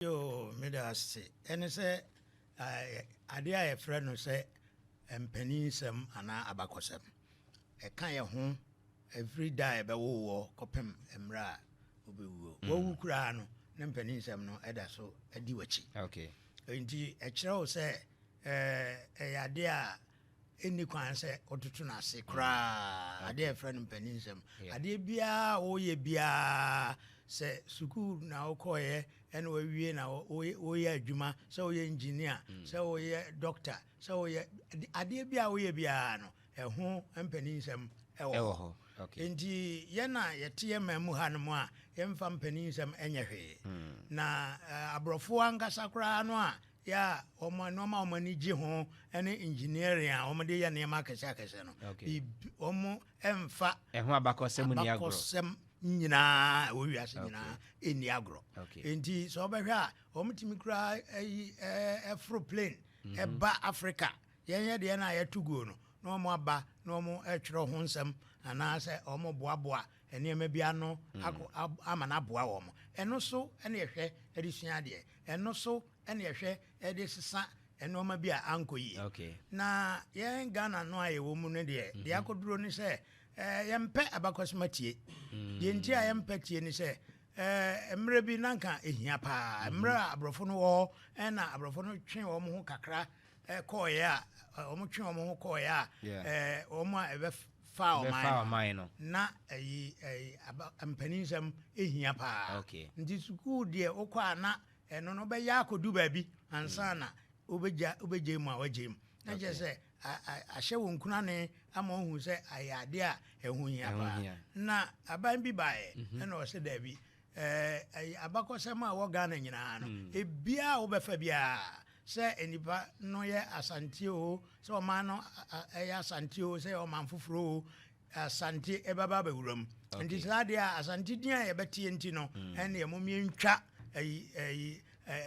Yoo meda ase. Ɛne sɛ adeɛ a yɛfrɛ no sɛ mpanin nsɛm anaa abakɔsɛm. Ɛka yɛn ho ɛfiri da a yɛbɛwo woɔ kɔpem mmerɛ a wobɛwuo. Mm. Wawu koraa no ne mpanin nsɛm no ɛda so adi w'akyi. Okay. Nti ɛkyerɛ wo sɛ ɛyɛ adeɛ a ɛnni kwan sɛ wototo no ase koraa mm. adeɛ ɛfrɛ no mpaninsɛm adeɛ biara a woyɛ biara sɛ sukuu na wokɔeɛ ɛna wawie na woyɛ adwuma sɛ woyɛ engineer mm. sɛ woyɛ doctor sɛ woyɛ adeɛ biara woyɛ biara no ɛho mpaninsɛm ɛwɔ hɔ nti yɛn a yɛteɛ ma mu ha no mu a yɛmfa mpaninsɛm ɛnyɛ hwee mm. na eh, aborɔfoɔ ankasa koraa no a yɛ a wɔn nneɛma a wɔn ani gye ho ne engineering a wɔn de yɛ nneɛma akɛse akɛse no biribi wɔn mfa ɛho abakɔsɛm ni agorɔ abakɔsɛm nyinaa ɛwɔ wiase nyinaa ɛni agorɔ nti sɛ wɔbɛhwɛ a wɔn tumi kura ɛyi ɛforo plane mhm. ɛba africa yɛn yɛ deɛ no a yɛto guo no na wɔn aba na wɔn ɛtwerɛ ho nsɛm anaasɛ wɔn boaboa nneɛma bi ano akɔ ama no aboa wɔn. Ɛno so na yɛhwɛ de sua adeɛ. Ɛno so na yɛhwɛ de sesa nneɛma bi a ankɔ yie. Okay. Na yɛn Ghana no a yɛwɔ mu no deɛ, mhm. deɛ akɔduro ne sɛ eh, yɛmpɛ abakɔsoma tie. Mm. Deɛ nti a yɛmpɛ tie ne sɛ eh, mmerɛ bi nanka ɛhia paa. Mhm. Mmerɛ a aborɔfo no wɔ hɔ na aborɔfo no twe wɔn ho kakra eh, kɔɔeɛ a eh, wɔn twe wɔn ho kɔɔeɛ a wɔn a faa ɔman no na ɛyi ɛyi aba mpaninsɛm ehia paa okay nti sukuu deɛ okɔ a na ɛno no bɛyɛ akɔdu baabi ansa hmm. na wobɛgya wobɛgya mu a wagya mu na kyerɛ sɛ ahyɛ wɔn nkunane ama wɔhu sɛ ayɛ adeɛ a ɛho hia paa na aban bi baeɛ mhm. ɛna ɔsɛ daabi Ɛɛ abakɔsɛm a ɛwɔ Ghana nyinaa no, hmm. ebiara a wobɛfa biara sɛ nnipa no yɛ Asante o, sɛ ɔman no ɛyɛ Asante o, sɛ ɔman foforɔ o, Asante ɛbɛba abɛwura mu. Nti saa adeɛ a Asante din a yɛbɛteɛ nti no, hmm. ɛne ɛmo mmiɛntwa ɛyi ɛyi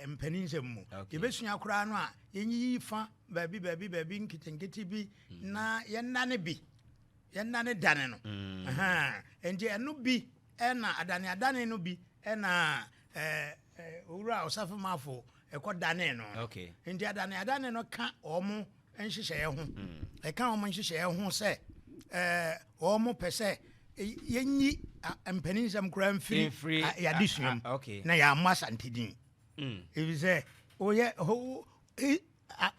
mpanin nsɛm mu. Yɛbɛsua koraa no a yɛnyiyi fa baabi baabi baabi nketenkete bi hmm. na yɛnna ne bi yɛnna ne dane no. Nti ɛno bi Ɛna adaneadane no bi na Owura Osafo Mafo ɛkɔ danee no. Nti adaneadane no ka wɔn nhyehyɛeɛ ho. Hmm. Ɛka wɔn nhyehyɛeɛ ho sɛ wɔn pɛ sɛ yɛnyi mpaninsɛm koraa mfiri yɛadesua mu na yɛammɔ Asante din. Ɛfiri hmm. sɛ woyɛ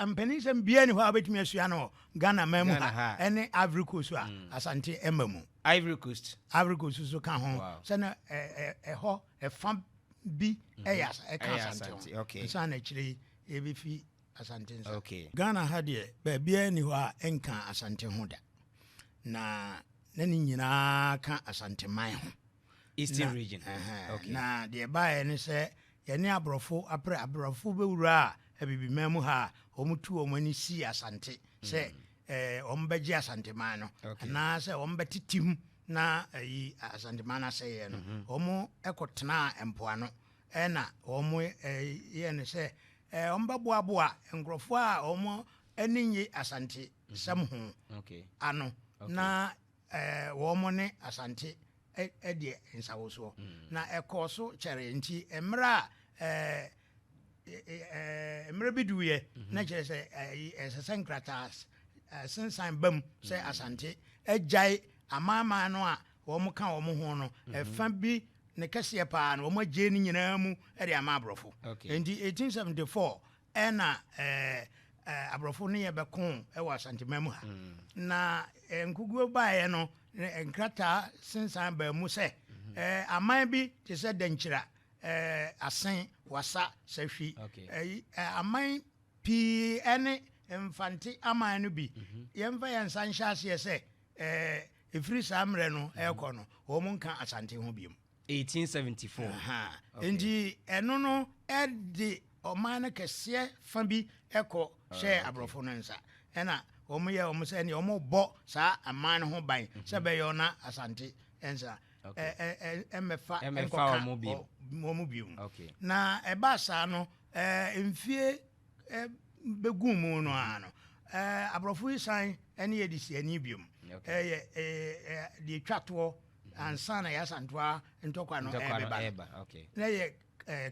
Mpaninnsɛm biaa ni hɔ a wobɛtumi asua no wɔ Ghana man mu ha ɛne Ivory Coast a mm. Asante ɛma mu. Ivory Coast. Ivory Coast so ka ho sɛ na ɛhɔ ɛfa bi mhm. ɛyɛ ɛka Asante ho. Nsa na akyire yi ɛbɛfi Asante nsa. Okay. Ghana ha deɛ baabiaa ni hɔ a ɛnka Asante ho da. Na na ne nyinaa ka Asante man ho. Eastern region. Okay. Na deɛ ɛbaeɛ ne sɛ yɛne aborɔfo aprɛ aborɔfo bɛwuraa abibiman mu ha a wɔtu wɔn ani sii asante sɛ mm. eh, wɔn bɛgye asanteman no anaasɛ wɔn bɛtetem na ayi eh, asanteman no asɛeɛ no mhm. wɔn ɛkɔtenaa mpoano ɛna wɔn eh, yɛ no sɛ wɔn bɛboaboa nkurɔfoɔ a wɔn ani nye asante sɛm ho ano na Ɛɛ, wɔn ne Asante adi nsawosoɔ, na ɛkɔɔ so kyɛree. Nti mmerɛ a ɛɛ, mmerɛ bi duiɛ, na kyerɛ sɛ ɛsɛ sɛ nkrataa sensan ba mu sɛ Asante agyae amanaman no a wɔka wɔn ho no, ɛfa bi ne kɛseɛ paa no, wɔagyei ne nyinaa mu de ama aborɔfo. Nti 1874 Ɛna aborɔfo ne yɛ bɛko wɔ Asanteman mu ha. Mm. Na nkuguo baeɛ no, nkrataa sensan baa mu sɛ mm-hmm. aman bi te sɛ Dankyira, Asen, Wasa, Sahwi, aman pii ne Mfante aman no bi. Mm-hmm. Yɛmfa yɛn nsa nhyɛ aseɛ sɛ ɛfiri saa mmerɛ no ɛrekɔ no, wɔn nka Asante ho biom. Eighteen seventy four. Ahaa. Okay. Nti ɛno no ɛde ɔman no kɛseɛ fa bi ɛkɔ Ah, hyɛɛ okay. aborɔfo no nsa. Ɛna wɔn yɛ wɔn sɛ ɛneɛ wɔn rebɔ saa aman no ho ban sɛ ɛbɛyɛ wɔn na Asante nsa Okay. ɛ- ɛ- ɛ- ɛmmɛfa Ɛmmɛfa ɛnkɔka wɔn bio. wɔ- wɔn bio. Okay. Na ɛbaa saa no ɛɛ mfie bɛguu mu no ara no aborɔfo yi san ne adesiani biom ɛyɛ deɛ ɛtwa toɔ ansa na yɛasantoa ntɔkwa no ɛbɛba na yɛ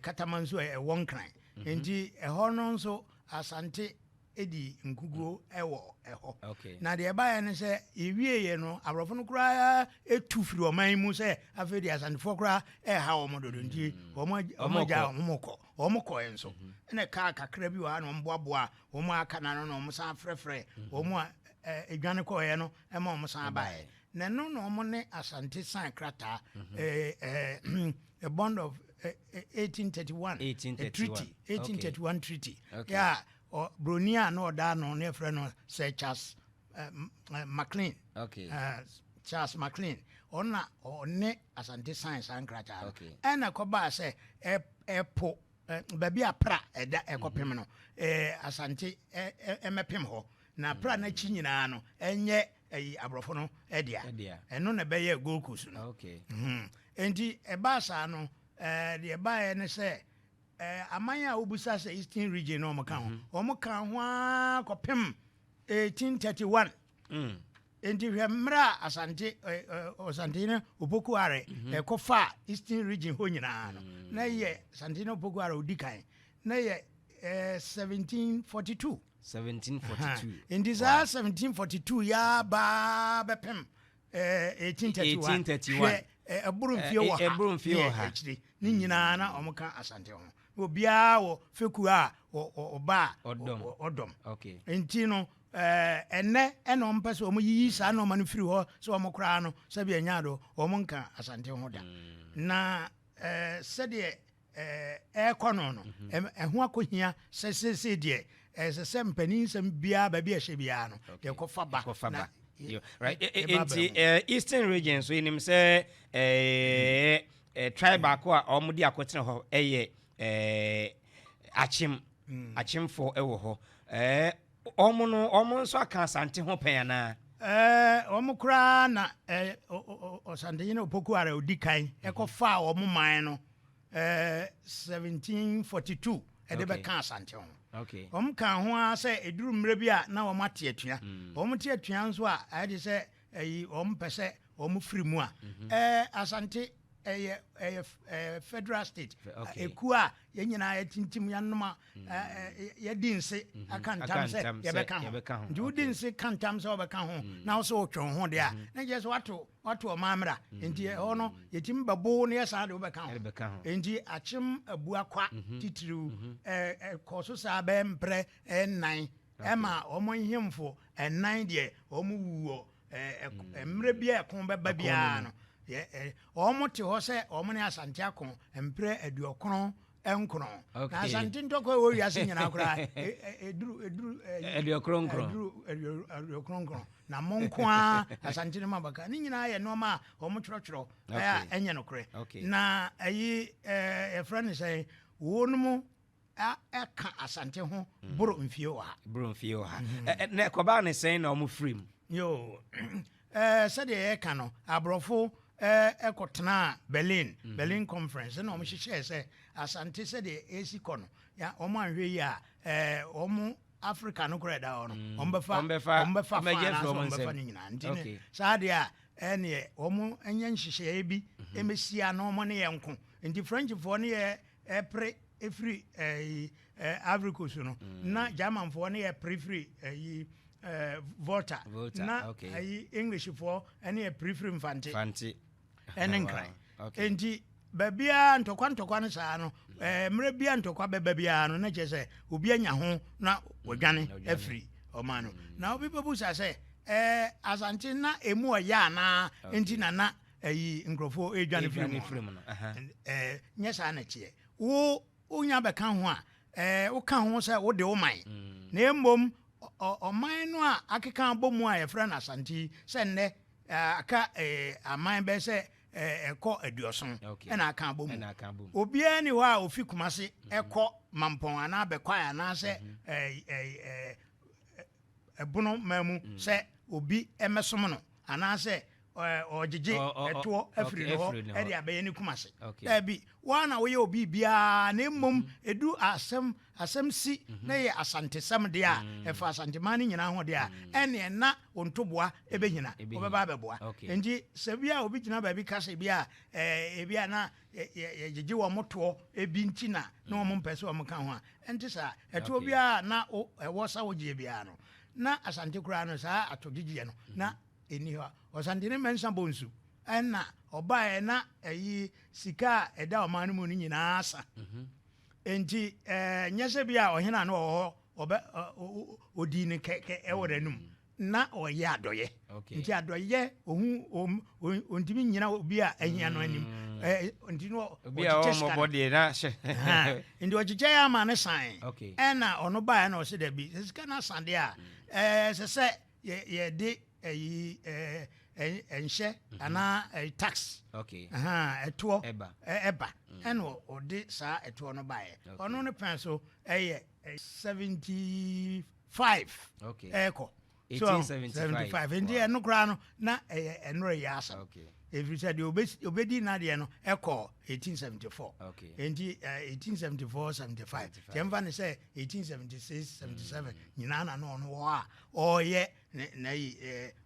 katama nso ɛwɔ nkran mhm. nti ɛhɔ no nso asante di nkuguo wɔ ɛhɔ na deɛ ɛbaeɛ no sɛ yɛwieeɛ no aborɔfo no koraa ɛtu firi ɔman mu sɛ afei deɛ asantefoɔ koraa ɛha wɔn dodo nti mhm. wɔn agya wɔn kɔ wɔn kɔɛ nso ɛna ɛkaa kakra bi wɔ ha na wɔn boaboa wɔn a aka na no na wɔn san frɛfrɛ wɔn a ɛɛ edwane kɔɛ no ɛma wɔn san baeɛ na ɛno na wɔn ne asante san krataa ɛɛ ɛɛ a bond of ɛɛ eighteen thirty one a treaty eighteen thirty one treaty yɛ a broni a na ɔda ano na yɛfrɛ no sɛ charles. uh, mclean okay. uh, charles mclean ɔna ɔne asante science saa nkrataa no ɛna ɛkɔbaa sɛ ɛpo baabi a pra ɛda ɛkɔpem mhm. no asante ɛmɛpem hɔ na pra no akyi nyinaa no ɛnyɛ ɛyi aborɔfo no ɛdea ɛno na ɛbɛyɛ gold coast no mhm. nti ɛbaa saa no deɛ ɛbaeɛ ne sɛ aman a wobusa sɛ eastern region no ɔmo ka ho mhm. ɔmo ka ho ara kɔpem 1831 Enti hwɛ mmerɛ a Asante Ɔsantehene Opoku Are mhm. ɛkɔ fa Eastern region hɔ nyinaa no mm. na yɛ Asantehene Opoku Are ɔdi kan na yɛ 1742 1742 nti saa 1742 yɛ baa bɛpem 1831 hwɛ ɛboro mfie wɔ ha akyire ne nyinaa na wɔn ka asante ho obiara wɔ fekuo a ɔba a ɔdɔm nti no ɛnɛ ɛna wɔn pɛ sɛ wɔn yiyi saa nneɛma no firi hɔ sɛ wɔn koraa no sɛbi ɛnya do wɔn nka asante ho da na sɛdeɛ ɛrekɔ no no, mhm. ɛho akɔhia sɛ seesei deɛ ɛsɛ sɛ mpanin nsɛm biara baabi a ɛhyɛ biara no deɛ kɔfa ba na nti eastern region so yɛnim sɛ mhm. tribe baako a wɔde akɔtena hɔ yɛ akyem mm. akyemfoɔ wɔ hɔ Wɔn no, wɔn nso aka Asante ho pɛn anaa? Ɛɛ, wɔn koraa na ɛɛ, Ɔsantehene Opoku-Ara a ɔdi kan kɔfaa wɔn man no ɛɛ 1742 de bɛka Asante ho. Wɔkaa ho ara sɛ ɛduru mmerɛ bi a na wɔate atua. Wɔte atua nso a, ayɛ te sɛ Ɛyi wɔn pɛ sɛ wɔn firi mu a. Ɛɛ Asante ɛyɛ ɛyɛ ɛɛ federal state. Okay. Ekuo a yɛn nyinaa yɛtintim yɛnoma yɛdi nse aka ntam sɛ yɛbɛka ho. Nti wodi nse ka ntam sɛ wɔbɛka ho na wo sɛ wotwe wo ho deɛ a na nkyɛ sɛ wato wato ɔman mmra. Nti ɛhɔ no yɛtumi bɛbo na yɛsan de wobɛka ho. Nti Akyem Abuakwa titiriw ɛɛ ɛkɔɔ so saa bɛyɛ mprɛ ɛɛ nnan Ɛma wɔn nhemfo nnan deɛ wɔn wu wɔ mmerɛ bi a ɛko bɛba biara no, wɔn te hɔ sɛ wɔn ne Asante ako mprɛ aduɔkron nkron. Na Asante ntɔkwa ɛwɔ wiase nyinaa koraa ɛduru ɛduru aduɔkron nkron. Aduɔkron nkron. Na mo nko ara Asante no ma baka. Ne nyinaa yɛ nneɛma a wɔn twerɛtwerɛ ɛyɛ a ɛnyɛ nokorɛ. Na ɛyi ɛfrɛ ne sɛ wɔn mu a ɛka asante ho mm. boro mfie ɔha boro mfie ɔha mm-hmm. na ɛkɔbaa ne sɛn na ɔmo firi mu yo sɛdeɛ yɛka no aborɔfo ɛkɔtenaa berlin mm-hmm. berlin conference na ɔmo hyehyɛɛ sɛ asante sɛdeɛ ɛsi kɔ no ɔmo anhwɛ yi a ɔmo africa no korɛ da hɔ no mm. ɔmo bɛfa ɔmo bɛfa fa anaasɛ ɔmo bɛfa ne nyinaa nti ne saa deɛ a ɛneɛ ɔmo nyɛ nhyehyɛeɛ bi ɛmɛsia mm-hmm. na ɔmo ne yɛ nko nti frenchfoɔ ne yɛ Ɛpre firi ɛyi ɛɛ Ivory Coast no na Germanfoɔ ne ɛpre firi ɛyi ɛɛ Volta na ɛyi Englishfoɔ ne ɛpre firi Mfante ɛne Nkran nti baabiara ntɔkwa ntɔkwa no saa no ɛɛ mmerɛ biara ntɔkwa bɛba biara no na kyerɛ sɛ obi anya ho na ɔdwane afiri ɔman no na obi bɛbusa sɛ ɛɛ Asante na emu ɔyɛ anaa nti na na ayi nkurɔfoɔ ɛredwane firi mu firi mu no ɛɛ nyɛ saa na teɛ wo wonya bɛka ho a ɛɛ woka ho sɛ wode wo man mm. na mmom ɔman no a akeka abɔ mu a yɛfrɛ no asante yi sɛ nnɛ aka aman bɛɛ sɛ ɛkɔ aduɔson ɛna aka abɔ mu obiara ni hɔ a ofi kumase mhm. ɛkɔ mampɔn anaa bɛkwae anaasɛ mhm. ɛbono man mu mhm. sɛ obi ɛmɛsom no anaasɛ ɔgyegye ɛtoɔ afiri ne hɔ de abɛyɛ ne kuma ase daabi woa na woyɛ obi biara na mmom ɛdu mhm. asɛm asɛm si mhm. na yɛ asantesɛm deɛ a mhm. ɛfa asanteman no nyinaa ho deɛ a ɛneɛ na ɔntoboa ɛbɛhina wɔbɛba abɛboa nti sɛ bi a obi gyina baabi ka sɛ bi a ɛbi a na yɛgyegye wɔ motoɔ ɛbi nti na na wɔn mpɛ sɛ wɔn ka ho a ɛnte saa ɛtoɔ biara na ɛwɔ sa wogyeɛ biara no na asante koraa no saa atɔgyegyeɛ no na nni hɔ a, Ɔsantene Mensah Bonsu na ɔbaeɛ na ɛyi sika a ɛda ɔman no mu no nyinaa asa. Enti nyɛ sɛ bi a ɔhene a na ɔwɔ hɔ ɔbɛ ɔdii no kɛkɛ ɛwɔ n'anum na ɔyɛ adɔyɛ nti adɔyɛ ohu ɔntumi nyina obi a ahia no anim nti no ɔkyekyɛ sika nti ɔkyekyɛ yɛ ama no san ɛna ɔno baeɛ na ɔsɛ dabi sɛ sika no asadeɛ a ɛsɛ sɛ yɛ yɛde ɛyi ɛɛ nhyɛ mhm. anaa ɛyi tax ɛtoɔ ɛba ɛna ɔde saa ɛtoɔ no baeɛ ɔno ne pɛn so ɛyɛ seventy five ɛɛkɔ so seventy five nti ɛno koraa no na ɛyɛ ɛnora yɛ asɛm ɛfiri sɛ deɛ obɛdi nadeɛ no ɛkɔ 1874 ɛnti 1874 75 tiɛmfa ne sɛ 1876 77 nyinaa na na ɔno wɔ a ɔyɛ na yi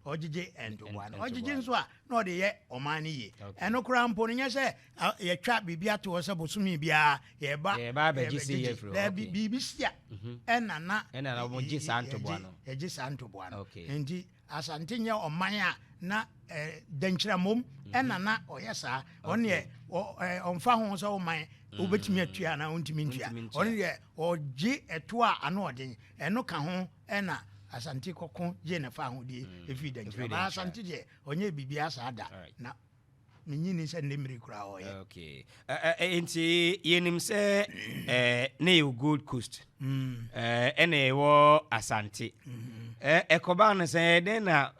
ɔgyegye ntoboa no ɔgyegye nso a na ɔde yɛ ɔman no yie ɛno koraa mpo no nyɛ sɛ yɛtwa biribi ato hɔ sɛ bosome biara yɛba yɛbɛgyegye daabi biribi si a mhm. ɛna na ɛgye saa ntoboa no ɛgye saa ntoboa no nti asante nyɛ ɔman a na dɛnkyerɛmom mhm. ɛna na ɔyɛ saa ɔneɛ ɔmfa ho sɛ woman mhm. wobɛtumi atua anaa wontumi ntua ɔno deɛ ɔgye ɛto a ano ɔden ɛno ka ho ɛna asante kɔko gye ne fa ahodeɛ mm. ɛfiri da nkyerɛ baa asante deɛ ɔnyɛ biribiaa saa da na menyini sɛ nne mmere koraa ɔyɛ okay. uh, uh, nti yɛnim sɛ uh, ne yɛwɔ gold coast mm. ɛna uh, ɛwɔ asante mm-hmm. ɛkɔbaa no sɛ dɛn na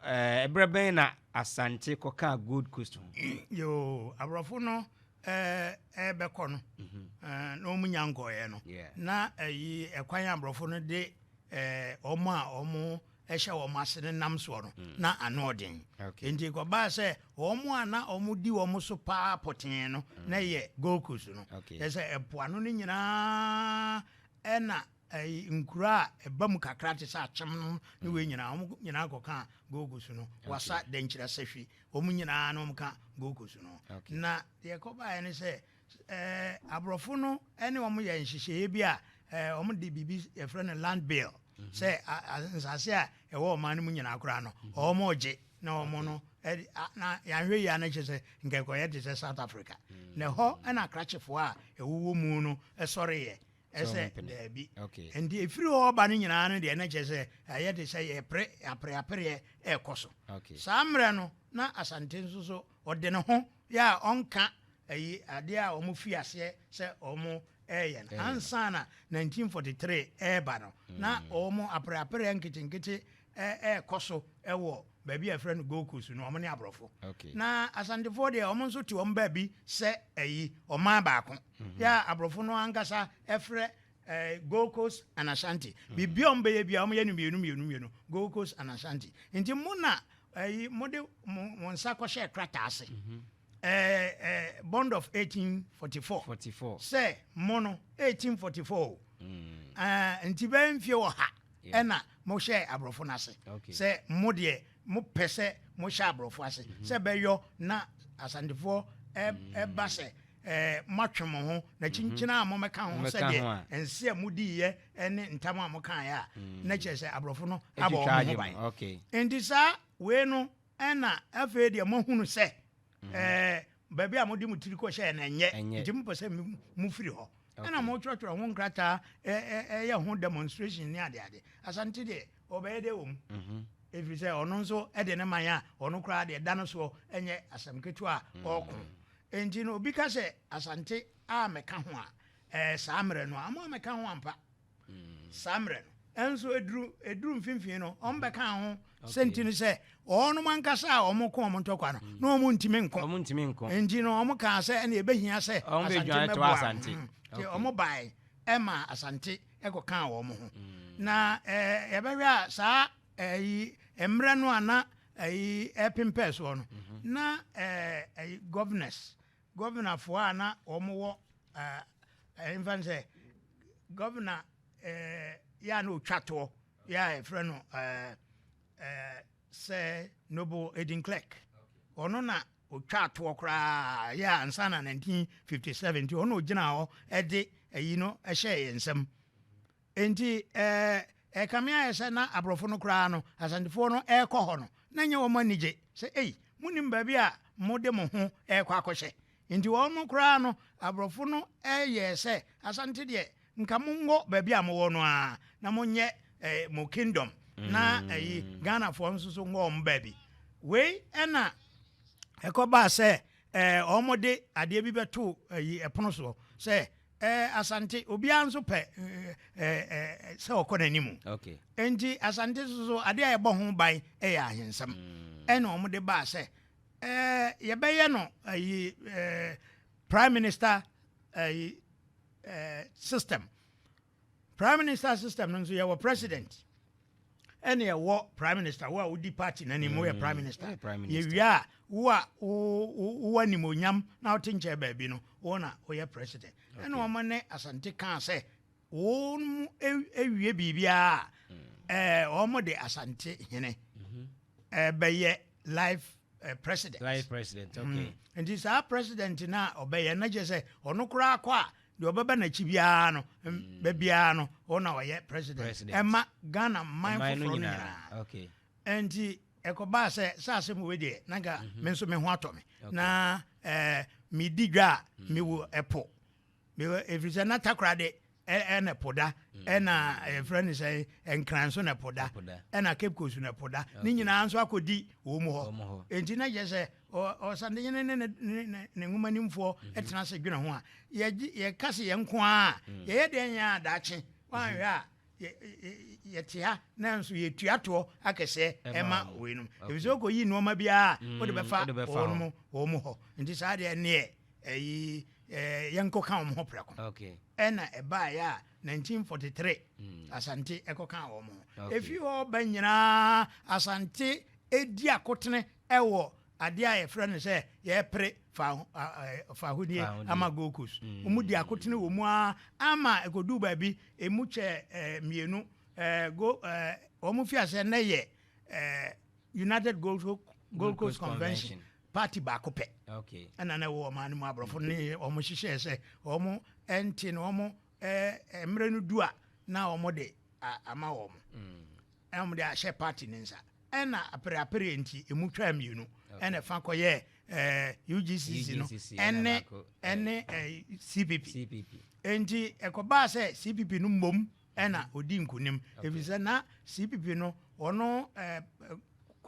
ɛberɛ uh, bɛn na asante kɔkaa gold coast ho yo aborɔfo no ɛbɛkɔ no mm-hmm. na ɔmu nya nkɔeɛ no na ɛyi ɛkwan aborɔfo no de wɔn a wɔhyɛ wɔn ase no nam soɔ no, mm. na ano ɔden. Nti kɔbaa sɛ wɔn a na wɔdi wɔn so paa pɔtee no mm. na yɛ Gold Coast no. Yɛ sɛ ɛpoano no nyinaa ɛna nkuro a ɛba mu kakra te sɛ akyem no ne wei nyinaa wɔn nyinaa kɔka Gold Coast no wasa dɛnkyerɛ sɛhwi wɔn nyinaa na wɔka Gold Coast no. Na deɛ kɔbaeɛ ne sɛ Aborɔfo no ne wɔn yɛ nhyehyɛeɛ bi a wɔde biribi yɛfrɛ no land bill mhm. sɛ nsase a ɛwɔ ɔman no mu nyinaa koraa no mhm. wɔn gye na wɔn no na yɛanhwɛ yie a na kyerɛ sɛ nkɛkɔyɛ te sɛ south africa mhm. na ɛhɔ ɛna akrakyefoɔ a ɛwowɔ mu no ɛsɔreeɛ ɛsɛ daabi nti ɛfiri hɔ ɔba no nyinaa no deɛ na kyerɛ sɛ ɛyɛ te sɛ yɛpere apereapereɛ ɛrekɔ so saa mmerɛ no na asante nso so ɔde ne ho yɛ a ɔnka ayi adeɛ a wɔn fi aseɛ sɛ wɔn ɛɛyɛ no ansa na 1943 ɛɛba no na mm. wɔn apereapereɛ nketenkete ɛɛkɔ so ɛwɔ baabi a ɛfrɛ no gold coast no wɔn ne aborɔfo na asantefoɔ deɛ wɔn nso te wɔn baabi sɛ ayi ɔman baako mhm. yɛ a aborɔfo no ankasa ɛfrɛ eh, Gold Coast and Ashanti. Mm. Biribi a wɔbɛyɛ bi a wɔyɛ no mmienu mmienu mmienu, Gold Coast and Ashanti. Nti mo na ɛyi eh, mo de mo mo nsa kɔhyɛ krataa ase. Mm -hmm. eh, eh, bond of 1844. 44. Sɛ mo no 1844. Mm. Uh, nti bɛyɛ mfie wɔ ha. Yeah. Ɛna mo hyɛ aborɔfo no ase. Okay. Sɛ mo deɛ mo pɛ sɛ mo hyɛ aborɔfo ase. Mm -hmm. Sɛ bɛyɔ na asantefoɔ ɛba eh, mm. sɛ. Ɛɛ, moatwe mo ho, na kyinkyini a momɛka ho sɛ deɛ nse a modiiɛ ne ntam a mokaeɛ a, mm. na kyerɛ sɛ aborɔfo no abɔ wɔn ho ban. Enti saa wei no ɛna afei deɛ moahunu sɛ mm-hmm. ɛɛ baabi a mode mo tiri kɔhyɛɛ no ɛnyɛ, nti mopɛ sɛ mofiri hɔ. Ɛna mo twerɛtwerɛ ho nkrataa ɛyɛ ho demonstration ne adeade asante deɛ ɔbɛyɛ dɛ wɔ mu mhm. ɛfiri sɛ ɔno nso ɛde ne man a ɔno koraa deɛ da no soɔ ɛnyɛ asɛm ketewa a mm. ɔɔko ɛnti no obi ka sɛ asante a mɛka ho a ɛɛ saa mmerɛ no a mo a mɛka ho ampa saa mmerɛ no. Nanso ɛduru ɛduru mfimfini no, wɔn bɛka ho sɛ nti no sɛ wɔnom ankasa a wɔn ko wɔn ntɔkwa no na wɔn ntumi nko. Wɔn ntumi nko. Nti no wɔn kaa sɛ ɛna ɛbɛhia sɛ asante mɛboa asante. Nti wɔn bae ɛma asante ɛkɔ kaa wɔn ho. Mm. Na ɛɛ yɛbɛhwɛ a saa ɛyi mmerɛ no a na ɛyi ɛpempɛ soɔ no mm-hmm. na ɛɛ ɛyi governors Gɔvenafoɔ a na wɔwɔ ɛɛ ɛmfa no sɛ gɔvena ɛɛ yɛ a na ɔtwa toɔ yɛ a yɛfrɛ no ɛɛ ɛɛ sɛ Noble Edin Clerk ɔno na ɔtwa atoɔ koraa yɛ a ansa na 1957 nti ɔno na ɔgyina hɔ ɛde ayi no ɛhyɛ yɛn nsam. Enti ɛkame ayɛ sɛ na aborɔfo no koraa no Asantefoɔ no rekɔ hɔ no na ɛnyɛ wɔn anigye sɛ ei monim baabi a mode mo ho rekɔ akɔhyɛ enti wɔn koraa no aborɔfo no yɛɛ sɛ Asante deɛ nka monkɔ baabi a mowɔ no ara na monyɛ mo kingdom na ɛyi Ghanafoɔ nso so nkɔ wɔn baabi wei ɛna ɛkɔbaa sɛ Ɛɛ, wɔde adeɛ bi bɛtoo ayi pono soɔ sɛ ɛɛ Asante obiara nso pɛ ɛɛ sɛ ɔkɔ n'anim. Okay. Nti Asante nso so adeɛ a ɛbɔ ho ban yɛ ahensɛm. Mm. Ɛna wɔde baa sɛ ɛɛ yɛbɛyɛ no ayi ɛɛ prime minister ɛɛ ɛɛ system. Prime minister system no nso yɛwɔ president ɛne ɛwɔ prime minister wo a wodi party no anim woyɛ prime minister mm, yɛwie a wo a wowɔ animonyam na wote nkyɛn baabi no wo na woyɛ president ɛne wɔn ne asante kaa sɛ wɔn awie biribiara mm. wɔn de asante hene mhm. bɛyɛ life Eh, president. Life president, okay. Mm. Nti saa president na ɔbɛyɛ na kyerɛ sɛ ɔno koraa kɔ a Deɛ ɔbɛba n'akyi biara no, ba biara no, ɔno na ɔyɛ president. Ɛma Ghana man foforɔ no nyinaa. Nti ɛkɔbaa sɛ sɛ asɛm wei deɛ na nka mhm. me nso me ho atɔ me na eh, medi dwa a mhm. mewɔ ɛpo ɛfiri sɛ na takora de ɛna ɛpo da mhm. ɛna ɛfrɛ ne sɛ nkran nso na ɛpo da ɛna cape coast na ɛpo da ne nyinaa nso akɔdi wɔ mu hɔ enti na kyerɛ sɛ Ɔsantehene ne ne nwomanimfoɔ tena ase dwene ho a, yɛka se yɛn nko ara a, mm. yɛyɛ deɛ nyɛ a daakye woanhwɛ a yɛte ha nanso yɛtua toɔ akɛseɛ ɛma wei nom ɛfiri sɛ wokɔyi nnoɔma biara mm, wode bɛfa wɔn mu wɔn mu hɔ nti saa deɛ neɛ ɛyi yɛnkɔka wɔn ho prɛko ɛna ɛbaeɛ a 1943 mm. asante ɛkɔka wɔn ho ɛfiri hɔ ba nyinaa asante ɛdi akotene wɔ adeɛ a yɛfrɛ no sɛ yɛpere fahonie ama gold coast wɔn di akotene wɔ mu ara ama ɛkɔduu baabi ɛmu kyɛ mmienu wɔn fi aseɛ nnɛ yɛ united gold, gold coast convention party baako pɛ ɛna na ɛwɔ ɔman no mu aborɔfo ne wɔn hyehyɛɛ sɛ wɔn ɛnte no wɔn mmerɛ no du a na wɔn de ama wɔn mm. na wɔde ahyɛ party no nsa. Ɛna apereapereɛ nti emu twaa mmienu ɛna ɛfa kɔyɛɛ ɛɛ UGCC no ɛne ɛne ɛɛ CPP. Nti ɛkɔbaa sɛ CPP no mmom ɛna odi nkunim efisɛ na CPP no wɔn ɛɛ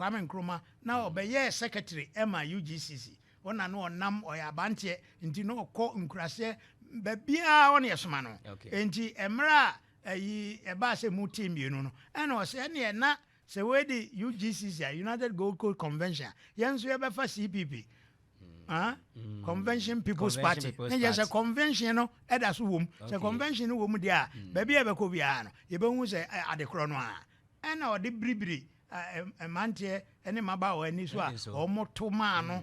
Kwame Nkrumah na mm. ɔbɛyɛɛ secretary ɛma UGCC ɔna no ɔnam ɔyɛ abanteɛ nti na ɔkɔ nkuraseɛ baabiara ɔne ɛsoma no nti mmerɛ a Ɛyi ɛbaa sɛ mu team mmienu no ɛna ɔsɛ ɛneɛ na sɛ wei de UGCC a, United Gold Coast Convention a, yɛn nso yɛbɛfa CPP, ah, Convention People's Convention Party, People's ne yɛ sɛ Party. convention no ɛda so wom. Sɛ Okay. convention no wom deɛ a, baabi a yɛbɛkɔ biara no, yɛbɛhu sɛ ɛ, adekorɔ no ara. Ɛna ɔde biribiri a, ɛ, mmeranteɛ ne mmabaawa ani so a Ɛso. wɔto maa no,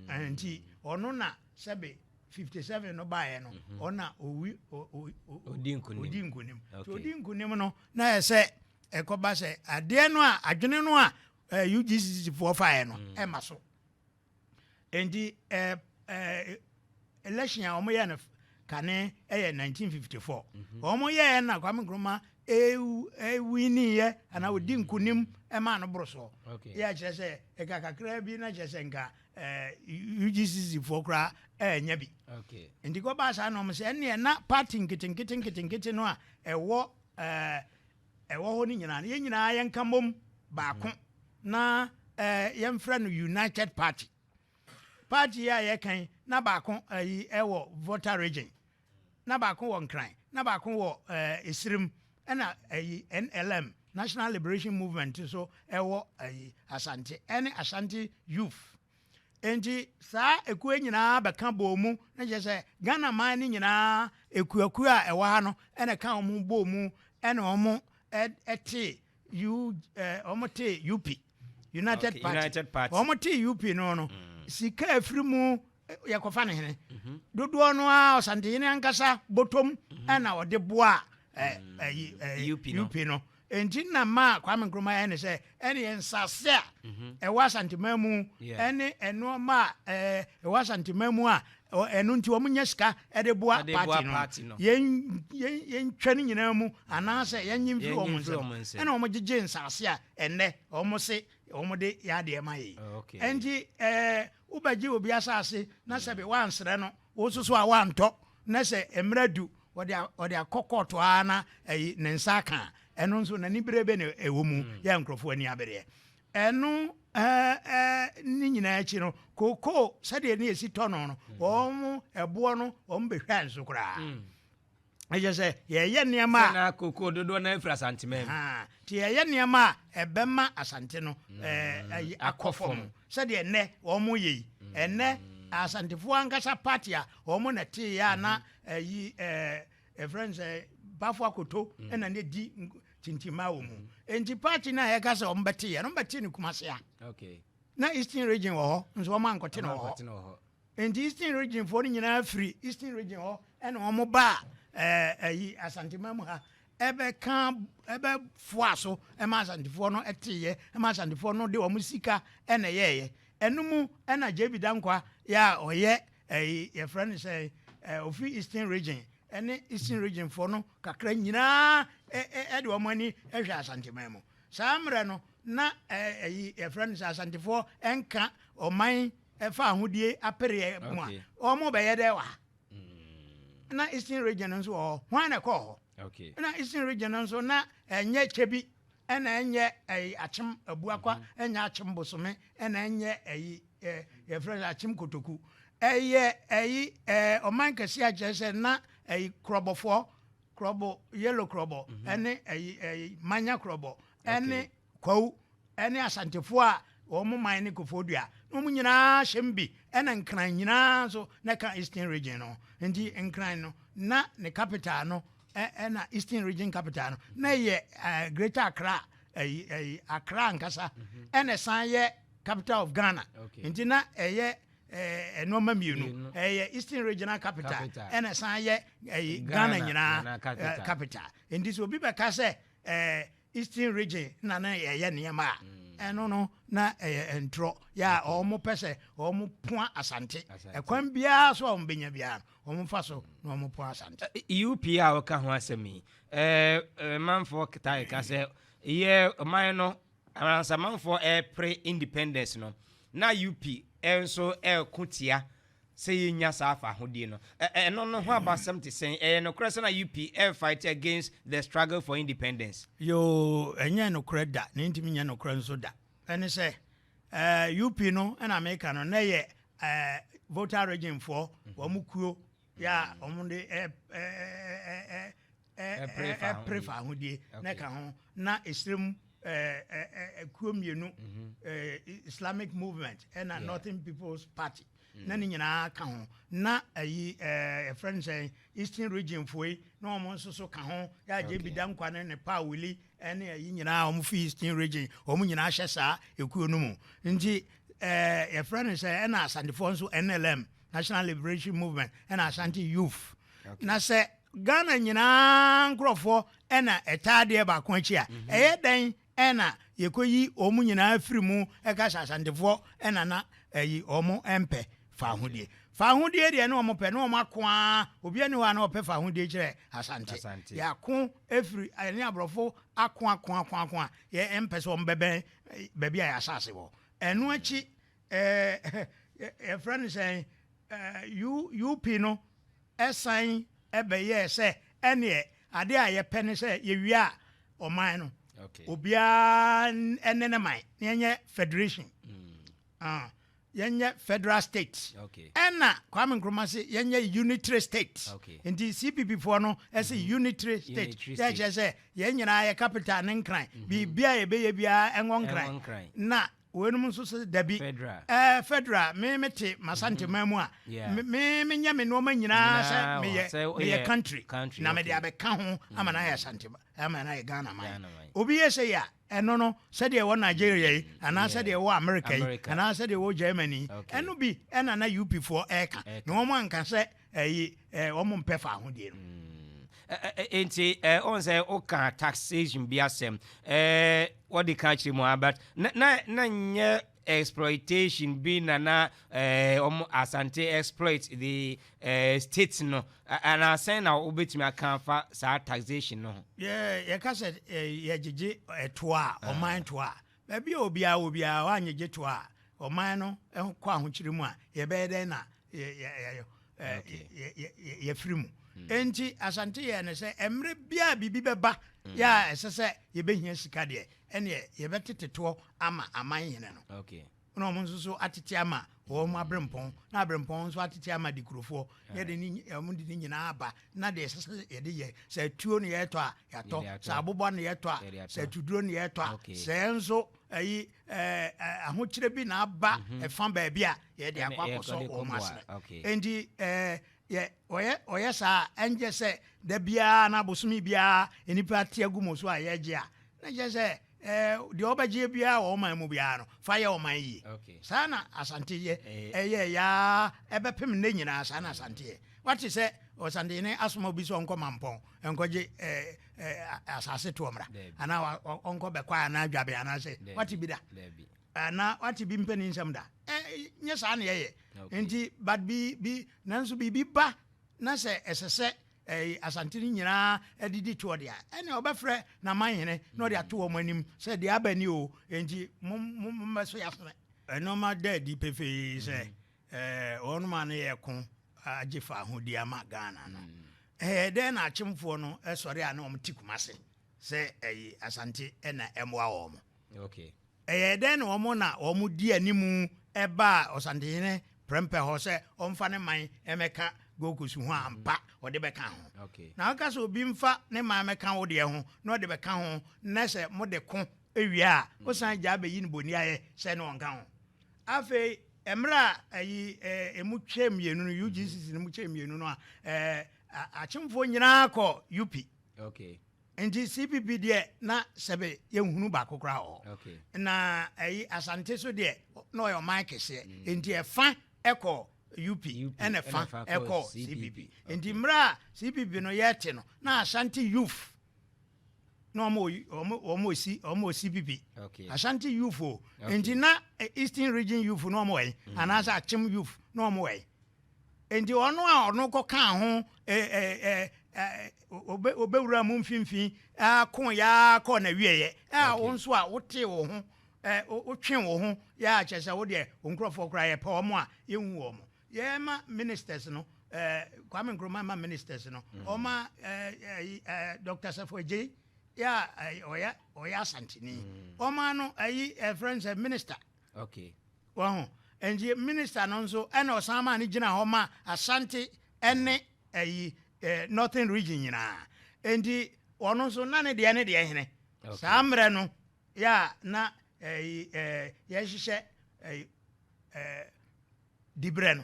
eh, nti ɔno na sɛbe fifty seven no baeɛ no mhm. ɔna owi odi nkunim nti odi nkunim no na yɛ sɛ ɛkɔba sɛ adeɛ no a adwene no a UGCC foɔ faeɛ no mm. ɛma so nti election a wɔyɛ no kane ɛyɛ nineteen fifty four mhm. wɔn yɛɛ na Kwame Nkrumah ewiniiɛ anaa odi nkunim ɛmaa no boro soɔ yɛ akyerɛ sɛ ɛka kakra bi na kyerɛ sɛ nka UGCC foɔ koraa ɛɛnyɛ bi nti kɔ baa saa na ɔmo sɛ ɛnneɛ na party nketenkete nketenkete no a ɛwɔ ɛɛ ɛwɔ hɔ no nyinaa no yɛn nyinaa yɛn ka mom baako mhm. na ɛɛ yɛn frɛ no united party party a yɛkan na baako ɛyi ɛwɔ voter region. na baako wɔ Nkran, na baako wɔ Esirim, ɛna ayi NLM, National Liberation Movement nso ɛwɔ ayi Asante, ɛne Ashanti Youth. Enti saa ekuo nyinaa bɛka bɔɔ mu, na kyerɛ sɛ Ghana man no nyinaa ekuakuo a ɛwɔ ha no ɛna ɛka wɔn bɔɔ mu ɛna wɔn ɛtee U, eh, wɔn te UP, United okay, Party. United Party. Wɔn te UP no no. Mm. Sika efiri mu eh, yɛ kɔfa ne hene. Mhm. Dodoɔ no a ɔsantehene ankasa bɔtɔm mhm. ɛna ɔde boa ɛɛ ɛyi ɛɛ UP no. UP no. Nti na ma Kwame Nkrumah yɛ ne sɛ ɛne yɛ nsase a mhm. ɛwɔ asanteman mu ɛne ɛnoɔma a ɛɛ ɛwɔ asanteman mu a Ɛno nti wɔnya sika de boa party no. Yɛntwa ne nyinaa mu anaasɛ yɛnnye mfiri wɔn nsam. Ɛna wɔgyegye nsase a ɛnnɛ wɔse wɔde yɛ adeɛ ma yɛn. Ɛnti wobɛgye obi asase na sɛbe woansrɛ no wo nso so a woantɔ na sɛ mmerɛ du ɔde akɔ court ara na ne nsa aka a, ɛno nso n'aniberebe na ɛwɔ mu. Yɛ nkurɔfoɔ ani abereɛ. Ɛno ne nyinaa akyi no, kokoo sɛdeɛ ne ɛsi tɔ no no, wɔn ɛboɔ no wɔn bɛhwɛ nso koraa. Ɛkyɛ sɛ yɛyɛ nneɛma a. Kokoo dodoɔ no afiri Asanteman mu. Nti yɛyɛ nneɛma a ɛbɛma Asante no ayi akɔ fam sɛdeɛ ɛnɛ wɔn yɛ yi. Ɛnɛ Asantefoɔ ankasa party a wɔn na ɛteeɛ a na ayi Yɛfrɛ no sɛ bafo akoto mm. na ne di tintima wɔ mu mm. nti party no a yɛka sɛ wɔn bɛte yɛ no bɛte no kumase a na eastern region wɔ hɔ nso wɔn ankɔte no wɔ hɔ nti eastern region foɔ no nyinaa firi eastern region hɔ ɛna wɔn ba ɛɛ ɛyi asantema mu ha ɛbɛka ɛbɛfoa so ɛma asantefoɔ no ɛte yɛ ɛma asantefoɔ no de wɔn sika ɛna yɛɛyɛ ɛno mu ɛna jb dankwa yɛ a ɔyɛ Ɛyi yɛfrɛ no sɛ eh, ofi eastern region ɛne eastern region foɔ no kakra nyinaa ɛde wɔn ani hwɛ asanteman mu saa mmerɛ no na ɛyi yɛfrɛ no sɛ asantefoɔ ɛnka ɔman ɛfa ahodie apereɛ mu a wɔn bɛyɛ dɛ wɔ ha mm. na eastern region nso wɔ hɔ hwan na ɛkɔɔ hɔ na eastern region nso na ɛnyɛ kyɛ bi ɛna ɛnyɛ ɛyi akyem abuakwa ɛnyɛ akyem bosome ɛna ɛnyɛ ɛyi ɛ yɛfrɛ no akyem kotoku ɛyɛ ɛyi ɛɛ ɔman kɛse akyerɛ sɛ na ɛyi korɔbɔfoɔ korɔbɔ yellow korɔbɔ mhm. ɛne ɛyi ɛyi manya korɔbɔ ɛne kwawu ɛne asantefoɔ a wɔn man ne kofoɔ dua na wɔn nyinaa hyɛ mu bi ɛna nkran nyinaa nso na ɛka eastern region no nti nkran no na ne capital no ɛna eastern region capital no na ɛyɛ ɛɛ greater accra ɛyi ɛyi accra nkasa mhm. ɛna ɛsan yɛ. Capital of Ghana. Nti na ɛyɛ eh, nneɛma mmienu. Ɛyɛ Eastern Regional Capital ɛna ɛsan yɛ eh, Ghana nyinaa eh, capital. Nti sɛ obi bɛka sɛ eh, Eastern Region na na ɛyɛ nneɛma a mm. ɛno no na ɛyɛ ntorɔ yɛ a wɔn pɛ sɛ wɔn poa Asante. Ɛkwan biara so a wɔn bɛnya biara wɔn fa so na wɔn poa Asante. UP a wɔka ho asɛm yi, ɛɛ manfoɔ taa ka sɛ yɛ ɔman no Amansamanfoɔ repere independence no, na UP nso reko tia sɛ yɛnya saa fahodie no. Ɛno no ho abasɛm te sɛn? Ɛyɛ nokorɛ sɛ na UP refight against the struggle for independence? Yoo, ɛnyɛ nokorɛ da, na ɛntumi nyɛ nokorɛ nso da. Ɛne sɛ, UP no na meka no, na ɛyɛ Volta Regionfoɔ wɔn kuo yɛ a wɔde ɛpere fa ahodie na ɛka ho na ɛhyerɛ mu kuo mmienu mhm. islamic movement ɛna northern people's party na ne nyinaa ka ho na ayi ɛfrɛ no sɛ eastern region foe na wɔn nso so ka ho yɛagye bi da nkwa ne ne paa wili ɛne ayi nyinaa wɔn fi eastern region wɔn nyinaa hyɛ saa ekuo no mu nti ɛɛ yɛfrɛ no sɛ ɛna asantefoɔ nso nlm national liberation movement ɛna asante youth na sɛ Ghana nyinaa nkorɔfoɔ na ɛtaa adeɛ baako akyi a, ɛyɛ dɛn na yɛkɔyi wɔn nyinaa firi mu ka sɛ Asantefoɔ na na ayi wɔn mpɛ fawohodie? Fawohodie deɛ ne wɔn pɛ, ne wɔn ako ara, obiara nni hɔ a na ɔpɛ fawohodie kyerɛ Asante. Asante. Yɛako firi, yɛne aborɔfo ako ako ako ako a yɛmpɛ sɛ wɔn bɛbɛn baabi a yɛn asase wɔ. Ɛno akyi, eh, yɛfrɛ no sɛn, eh, U, UP no, Ɛsan bɛyɛɛ sɛ ɛnneɛ adeɛ a yɛpɛ ne sɛ yɛwie a ɔman no obiara ne ne man na yɛnyɛ federation uh, yɛnyɛ federal state ɛna Kwame Nkrumah se yɛnyɛ unitary state nti CPP foɔ no ɛse mm-hmm. unitary state yɛkyerɛ sɛ yɛn nyinaa yɛ capital ne nkran mm-hmm. biribia yɛbɛyɛ biara ɛwɔ nkran na Weinom nso se dabi. Fedra. Ɛɛ Fedra, me me te m'Asante man mu a, me me me nyɛ me nnoɔma nyinaa sɛ me yɛ me yɛ country, na me de abɛka ho ama no ayɛ Asante ama no ayɛ Ghana man. Obi yɛ sei a, ɛno no, sɛdeɛ ɛwɔ Nigeria yi, anaa sɛdeɛ ɛwɔ America yi, anaa sɛdeɛ ɛwɔ Germany yi, ɛno bi ɛna na UP foɔ ɛɛka, na wɔn anka sɛ ɛyi ɛɛ wɔn mpɛ faahodie no. Mm. Nti ɔn sɛ ɔka taxation bi asɛm ɔde ka akyerɛ mu a but na na na nyɛ exploitation bi na na wɔn asante exploit the state no anaasɛn na wobɛtumi aka afa saa taxation no ho. yɛka sɛ yɛgyegye ɛtoa a ɔman toa a Baabi a obiara wɔ biara, wɔanyɛ gye to a, ɔman no kɔ ahokyere mu a, yɛbɛyɛ dɛn na yɛafiri mu? Hmm. Enti Asante yɛɛ no sɛ mmerɛ biara biribi bɛba hmm. yɛ a ɛsɛ sɛ yɛbɛhia sika deɛ, ɛneɛ yɛbɛtete toɔ ama aman hene no. Na wɔn nso so atete ama wɔn aberempɔn na aberempɔn nso atete ama dekurofoɔ na yɛde ne wɔn de ne nyinaa aba na deɛ ɛsɛ sɛ yɛde yɛ sɛ atuo na yɛtɔ a yɛatɔ sɛ abobɔ na yɛtɔ a sɛ atuduro na yɛtɔ a sɛ nso ɛyi ɛɛ ahokyerɛ bi na aba mhm. ɛfa baabi a yɛde akɔ akɔsɔ wɔn ase nti ɛɛ yɛ ɔyɛ ɔyɛ saa ɛnjɛ sɛ da biara na abosomi biara nipa te agu mu so a yɛgye a na yɛ sɛ. Ɛɛ, deɛ wobɛgyeɛ biara wɔ ɔman mu biara no, fa yɛ ɔman yie. Saa na Asante yɛ. Ɛyɛɛ yɛ ara, ɛbɛpem nnɛ nyinaa, saa na Asante yɛ. Woate sɛ Ɔsantehene asoma obi sɛ ɔnkɔ Mampɔn nkɔgye asase toɔ mmra? Anaa ɔnkɔ Bɛkwaa anaa Dwaben anaasɛ? Woate bi da? Anaa woate bi mpani nsɛm da? Nyɛ saa na yɛyɛ. Nti, but bi, bi, nanso biribi ba na sɛ ɛsɛ sɛ ɛɛ, Asante no nyinaa de di toɔ deɛ a, ɛnna ɔbɛfrɛ n'amanhene na ɔde ato wɔn anim sɛ deɛ aba ni o, enti mo mo mmɛso yasene. Ɛnneɛma da adi pefee sɛ mm. ɛɛ wɔn ma no yɛ ko agye faahodi ama Ghana no. Mm. Ɛɛ dɛn na akyemfoɔ no sɔre a na wɔn ti kumase sɛ ɛyi Asante na ɛmoa wɔn. Ɛyɛɛ dɛn na wɔn na wɔdii anim baa Ɔsantehene prɛmpɛ hɔ sɛ ɔmfa ne man mmɛka Gold Coast ho a ampa ɔde bɛka ho? Na woka sɛ obi mfa ne man mmɛka wo deɛ ho na ɔde bɛka ho na sɛ mode ko wie a wosan gyaa bɛyi no boniayɛ sɛ ne ɔnka ho? Afei mmerɛ a ayi ɛmu kyɛɛ mmienu no, UGCC no mu kyɛɛ mmienu no a, akyemfoɔ nyinaa kɔɔ UP. Nti CPP deɛ na sɛbe yɛnhunu baako koraa wɔ hɔ. Okay. Na ɛyi Asante so deɛ na ɔyɛ ɔman kɛseɛ. Mm. Nti ɛfa ɛkɔ UP ɛna ɛfa ɛkɔ CPP. Nti mmerɛ a CPP no yɛte no na Asante youth na wɔn ɔsi wɔn ɔsi bibi ashanti youth o nti na eh, eastern region youth na wɔn wɔ yi mm. anaasɛ akyem youth na wɔn wɔ yi Enti ɔno a ɔno kɔkaa ho ɔbɛwuraa mo mfimfini ara koo yɛ ara kɔɔ n'awieeɛ a wo nso a wotee wo ho wotwee wo ho yɛ a kyerɛ sɛ wo deɛ wo nkurɔfoɔ koraa yɛpɛ wɔn a yɛnhu wɔn yɛma ministers no Kwame Nkrumah ma ministers no ɔma Dr. Safo Agyei yɛ a ɔyɛ Asanteni ɔma no ayi ɛfrɛ no sɛ minister Ok. Wahu? Nti minister no nso ɛna ɔsan maa no gyina hɔ ma Ashanti ɛne ɛyi eh, Northern region nyinaa. Nti ɔno nso na ne deɛ ne deɛ hene. Ok. Saa mmerɛ no yɛ a na ɛyi eh, yɛhyehyɛ ɛyi eh, de brɛ no.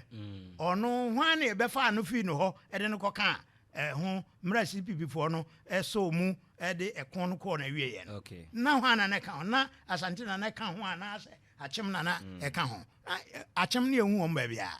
Ɔno hwan na ɛbɛfaa no fii no hɔ de no kɔkaa ɛho mmerɛ CPPfoɔ no sɔɔ mu de ɛko no kɔɔ no awieeɛ no. Na hwan na na ɛka ho? Na Asante na na ɛka ho anaasɛ Akyem na na ɛka ho? Na Akyem ne yɛnhu wɔn baabiara.